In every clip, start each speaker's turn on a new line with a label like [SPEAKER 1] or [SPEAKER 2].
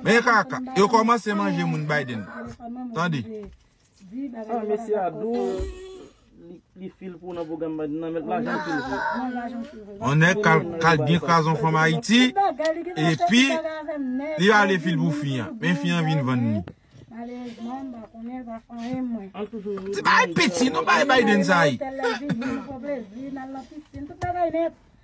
[SPEAKER 1] Men kaka, yo komanse manje moun Biden. Tande.
[SPEAKER 2] Ah mesye a dou Li fil pou nan program Biden nan Met lajan fil pou
[SPEAKER 1] On nèg kal byen krazon fanm Ayiti Epi Li ale fil pou fi an Men fi an vin vann ni Ti bagay piti non bagay Biden sa ye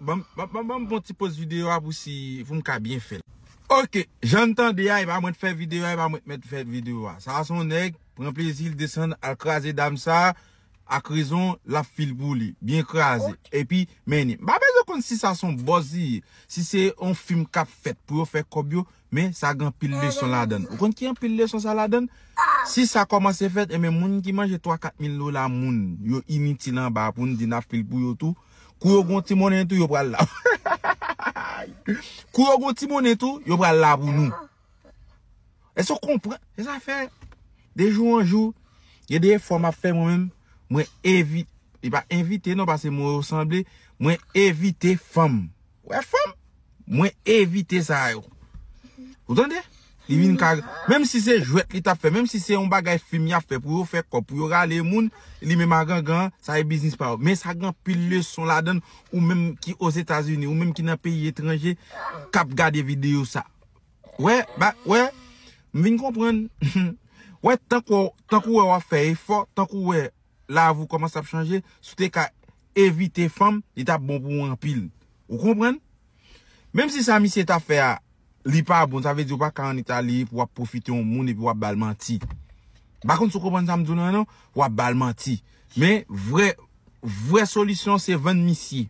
[SPEAKER 1] Banm fon ti poz video a pou si poum ka byen fel. Ok jann tande a epa mwen t fè video a epa mwen t mèt fè video a sa son nèg pran plezil desann al kraze dam sa ak rezon lap fil pou li byen kraze epi mennen m pa bezwen konn si sa son bòz li ye si se yon fim kap fèt pou yo fè kòb yo Men sa gen anpil leson ladann. Ou konn ki anpil leson sa ladann? Si sa kòmanse fèt, enben moun ki manje 3, 4 mil dola moun, yo initil anba a pou n di n ap fè l pou yo tou. Kou yo gen yon ti monnen tou, yo pral la. Kou yo gen yon ti monnen tou, yo pral la pou nou. Èske ou konprann? Se sa fè, de jou an jou, gen de efò m ap fè mwen menm, mwen evi, e pa envite non, paske mo yo sanble, mwen evite fanm. Wè fanm? Mwen evite sa yo. Ou tande? Li vin ka menm si se jwèt li tap fè, menm si se yon bagay fim yap fè pou yo fè kòb, pou yo rale moun, li menm a gangan an, sa e biznis pa yo. Men sa gen anpil leson ladann ou menm ki Ozetazini, ou menm ki nan peyi etranje kap gade videyo sa. Wè, ba, wè, m vin konprann. Wè tankou, tankou wè wap fè efò, tankou wè. lavi w kòmanse ap chanje, si w te ka evite fanm, li t ap bon pou ou anpil. Ou konprann? Menm si sa misye t ap fè a, li pa bon, sa vle di ou pa ka ann Itali pou w ap pwofite yon moun epi w ap ba l manti. M pa konn si w konprann sa m di w la non, w ap ba l manti. Men, vrè, vrè solisyon se vann misye.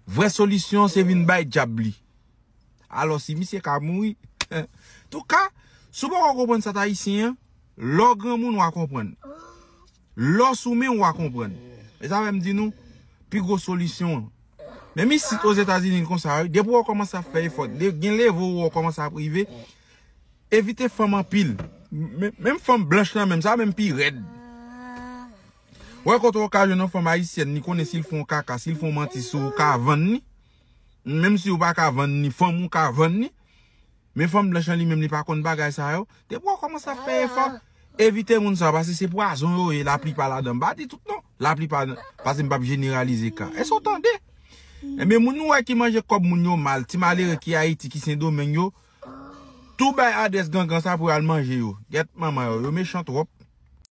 [SPEAKER 1] Vrè solisyon se vin bay dyab li. Alò si misye ka mouri Touka si w poko konprann sa t ayisyen an lè w granmoun w a konprann Lè w sou men w w a konprann E sa fè m di nou pi gwo solisyon an Menm isit ozetazini konsa wi depi w kòmanse ap fè efò gen leve w wè w kòmanse ap rive Evite fanm anpil Menm fanm blanch lan menm sa menm pi rèd Wè kote w ka jwenn yon fanm ayisyèn li konnen si l fè yon kaka si l fè yon manti sou w ou ka vann li menm si ou pa ka vann ni fanm ou ka vann ni men fanm blanch lan li menm li pa konn bagay sa yo depi wap komanse ap fè efò evite moun sa pase se pwazon yo ye la plipa ladan m pa di tout non la plipa pase m pap jeneralize ka èske ou tande ebyen moun ou wè ki manje kòb moun yo mal ti malere ki ayiti ki sendomeng yo tou bay adrès gangan sa pou yo al manje yo gèt manman yo yo mechan twòp.